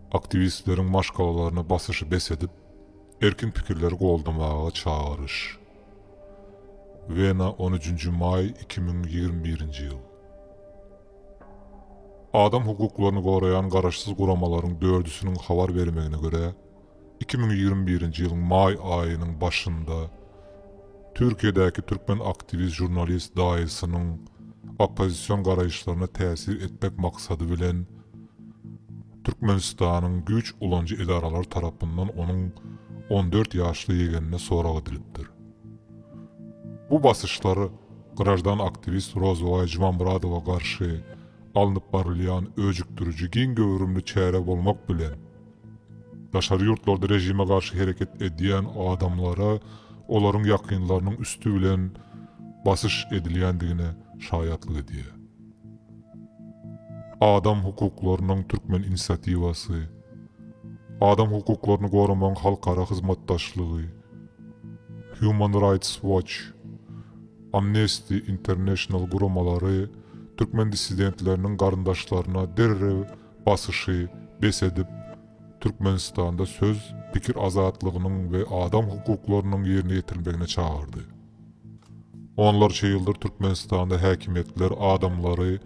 Aktiwistleriň maşgalalaryna basyşy bes edip, erkin pikirleri goldamaga çagyryş. Wena, on üçünji maý, iki müň ýigrimi birinji ýyl. Adam hukuklaryny goraýan garaşsyz guramalaryň dördüsiniň habar bermegine görä, Iki müň ýigrimi birinji ýylyň maý aýynyň başynda Türkiýedäki türkmen aktiwist žurnalist daýysynyň oppozision garaýyşlaryna täsir etmek maksady bilen Türkmenistanyň güýç ulanyjy edaralary tarapyndan onuň on dört ýaşly ýegenine sorag edilipdir. Bu basyşlar graždan aktiwist Rozybaý Jumamyradowa garşy alnyp barylýan öjükdiriji giň göwrümli çäre bolmak bilen, Daşary ýurtlarda režime garşy hereket edýän adamlara olaryň ýakynlarynyň üsti bilen basyş edilýändigine şaýatlyk edýär. Adam hukuklarynyň türkmen inisiatiwasy, Adam hukuklaryny goramagyň halkara hyzmatdaşlygy, Human Rights Watch, Amnesty International guramalary türkmen dissidentleriniň garyndaşlaryna derrew basyşy bes edip, Türkmenistanda söz, pikir azatlygynyň we adam hukuklarynyň ýerine ýetirilmegine çagyrdy. Onlarça ýyldyr Türkmenistanda häkimiýetler adamlary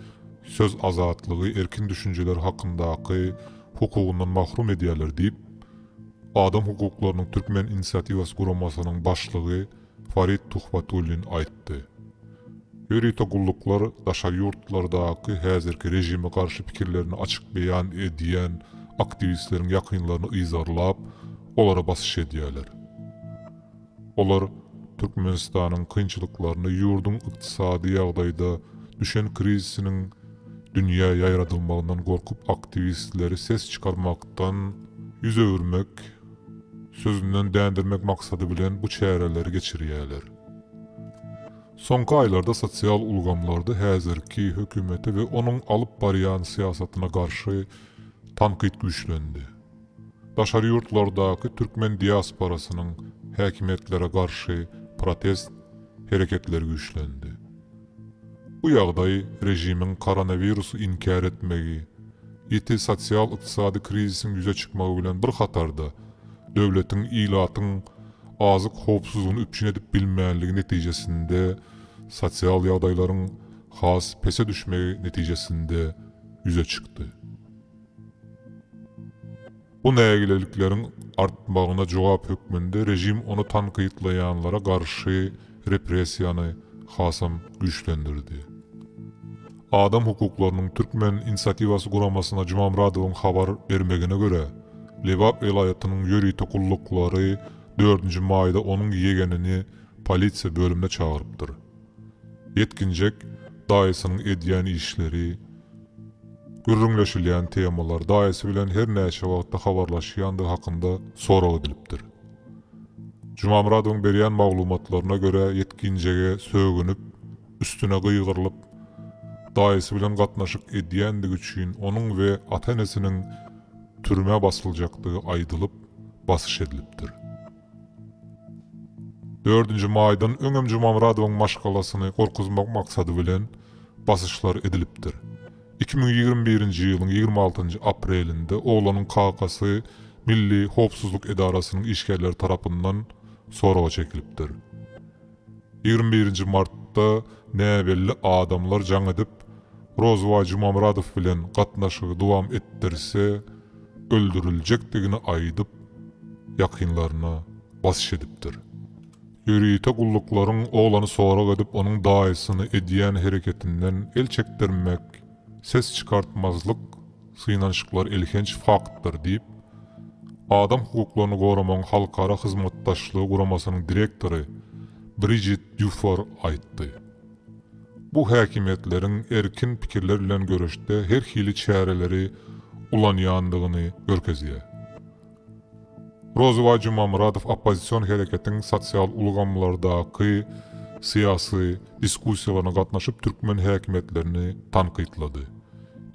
söz azatlygy, erkin düşünjeler hakyndaky hukugyndan mahrum edýärler diýip, Adam hukuklarynyň türkmen inisiatiwasy guramasynyň başlygy Farid Tuhbatullin aýtdy. Ýörite gulluklar daşary ýurtlardaky häzirki režime garşy pikirlerini açyk beýan edýän aktiwistleriň ýakynlaryny yzarlap, olara basyş edýärler. Olar Türkmenistanyň kynçylyklaryny ýurduň ykdysady ýagdaýda düşen krizisiniň dünýä ýaýradylmagyndan gorkup aktiwistleri ses çykarmakdan ýüz öwürmek, sözünden dändirmek maksady bilen bu çäreleri geçirýärler. Soňky aýlarda sosial ulgamlarda häzirki hökümete we onuň alyp barýan syýasatyna garşy tankyt güýçlendi. Daşary ýurtlardaky türkmen diasporasynyň häkimiýetlere garşy protest hereketleri güýçlendi. Bu ýagdaý režimiň koronawirusy inkär etmegi, ýiti sosial-ykdysady krizisiň ýüze çykmagy bilen bir hatarda, döwletiň ilatyň azyk howpsuzlygyny üpjün edip bilmänligi netijesinde sosial ýagdaýlaryň has pese düşmegi netijesinde ýüze çykdy. Bu nägilelikleriň artmagyna jogap hökmünde režim ony tankytlaýanlara garşy repressiýany hasam güýçlendirdi. Adam hukuklarynyň türkmen inisiatiwasy guramasyna Jumamyradowyň habar bermegine görä, Lebap welaýatynyň ýörite gulluklary dördünji maýda onuň ýegenini polisiýa bölümine çagyrypdyr. Ýetginjek daýysynyň edýän işleri, gürrüňleşilýän temalar, daýysy bilen her näçe wagtda habarlaşýandygy hakynda sorag edilipdir. Jumamyradowyň berýän maglumatlaryna görä, ýetginjege sögünip, üstüne gygyrylyp, daýysy bilen gatnaşyk edýändigi üçin onuň we ata-enesiniň türmä basyljakdygy aýdylyp, basyş edilipdir. Dördünji maýdan öňem Jumamyradowyň maşgalasyny gorkuzmak maksady bilen basyşlar edilipdir. Iki müň ýigrimi birinji ýylyň ýigrimi altynjy aprelinde oglanyň kakasy Milli howpsuzlyk edarasynyň işgärleri tarapyndan soraga çekilipdir. Ýigrimi birinji martda näbelli adamlar jaň edip, Rozybaý Jumamyradow bilen gatnaşygy dowam etdirse, öldüriljekdigini aýdyp, ýakynlaryna basyş edipdir. Ýörite gulluklaryň oglany sorag edip, onuň daýysyny edýän hereketinden el çekdirmek Ses çykartmazlyk, synanyşyklar elhenç faktdyr diýip, Adam hukuklaryny goramagyň halkara hyzmatdaşlygy guramasynyň direktory Brijit Dýufor aýtdy. Bu häkimiýetleriň erkin pikirler bilen göreşde her hili çäreleri ulanýandygyny görkezýär. Rozybaý Jumamyradow oppozision hereketiň sosial ulgamlardaky syýasy diskussiýalaryna gatnaşyp türkmen häkimiýetlerini tankytlady.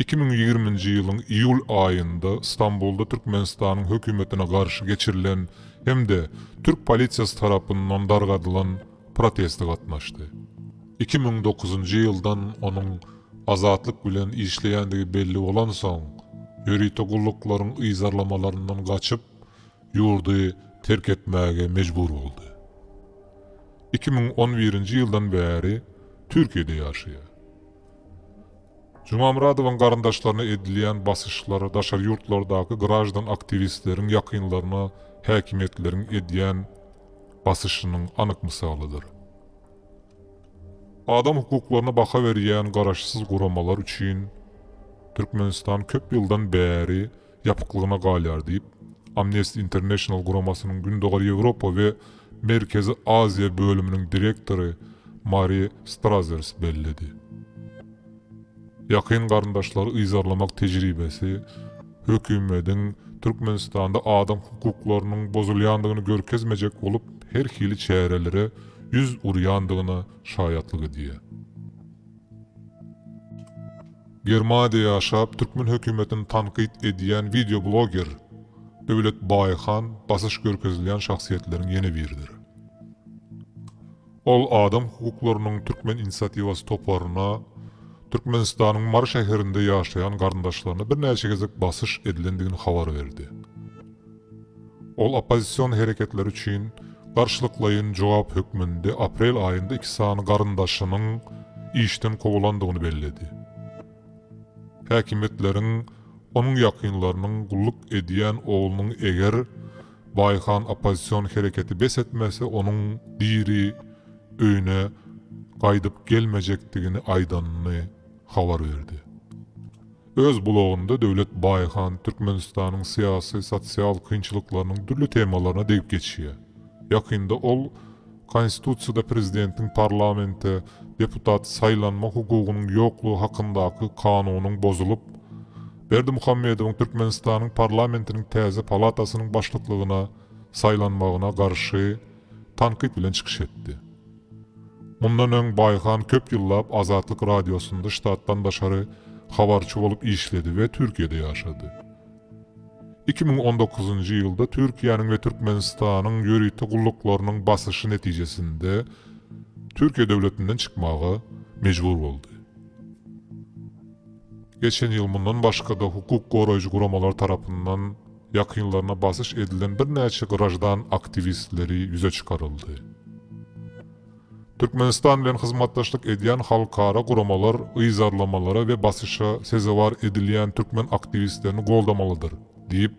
Iki müň ýigriminji ýylyň iýul aýynda Stambulda Türkmenistanyň hökümetine garşy geçirilen hem-de türk polisiýasy tarapyndan dargadylan proteste gatnaşdy. Iki müň dokuzynjy ýyldan onuň Azatlyk bilen işleýändigi belli bolansoň, ýörite gulluklaryň yzarlamalaryndan gaçyp, ýurdy terk etmäge mejbur boldy. Iki müň on birinji ýyldan bäri Türkiýede ýaşaýar. Jumamyradowyň garyndaşlaryna edilýän basyşlar, daşary ýurtlardaky graždan aktiwistleriň ýakynlaryna häkimiýetleriň edýän basyşynyň anyk mysalydyr. Adam hukuklaryna baha berýän garaşsyz guramalar üçin Türkmenistan köp ýyldan bäri ýapyklygyna galýar diýip, Amnesty International guramasynyň Gündogar Ýewropa we Merkezi Aziýa bölüminiň direktory Mari Strazers belledi. Ýakyn garyndaşlary yzarlamak tejribesi hökümediň Türkmenistanda adam hukuklarynyň bozulýandygyny görkezmejek bolup, her hili çärelere ýüz urýandygyna şaýatlyk edýär. Germaniýada ýaşap, türkmen hökümetini tankyt edýän wideobloger Döwlet Baýhan basyş görkezilýän şahsyýetleriň ýene biridir. Ol adam hukuklarynyň türkmen inisiatiwasy toparyna Türkmenistanyň Mary şäherinde ýaşaýan garyndaşlaryna birnäçe gezek basyş edilendigini habar berdi. Ol oppozision hereketler üçin garşylyklaýyn jogap hökmünde aprel aýynda iki sany garyndaşynyň işden kowulandygyny belledi. Häkimiýetleriň onuň ýakynlarynyň gulluk edýän oglunyň eger Baýhan oppozision hereketi bes etmese onuň diri öýüne gaýdyp gelmejekdigini aýdanyny habar berdi. Öz blogynda Döwlet Baýhan Türkmenistanyň syýasy, sosial kynçylyklarynyň dürli temalaryna degip geçýär. Ýakynda ol Konstitusiýada prezidentiň parlamente deputat saýlanma hukugynyň ýoklugy hakyndaky kanunyň bozulyp, Berdimuhamedowyň Türkmenistanyň parlamentiniň täze palatasynyň başlyklygyna saýlanmagyna garşy tankyt bilen çykyş etdi. Mundan öň Baýhan köp ýyllap Azatlyk Radiosynda ştatdan daşary habarçy bolup işledi we Türkiýede ýaşady. Iki müň on dokuzynjy ýylda Türkiýäniň we Türkmenistanyň ýörite gulluklarynyň basyşy netijesinde Türkiýe döwletinden çykmaga mejbur boldy. Geçen ýyl mundan başga-da hukuk goraýjy guramalar tarapyndan ýakynlaryna basyş edilen birnäçe graždan aktiwistleri ýüze çykaryldy. Türkmenistan bilen hyzmatdaşlyk edýän halkara guramalar yzarlamalara we basyşa sezewar edilýän türkmen aktiwistlerini goldamalydyr diýip,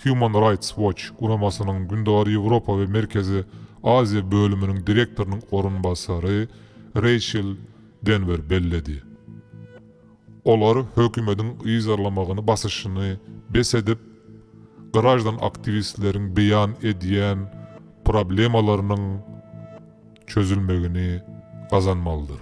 Human Rights Watch guramasynyň Gündogar Ýewropa we Merkezi Aziýa bölüminiň direktorynyň orunbasary Reýçel Denwer belledi. Olar hökümediň yzarlamagyny basyşyny bes edip, graždan aktiwistleriň beýan edýän problemalarynyň çözülmegini gazanmalydyr.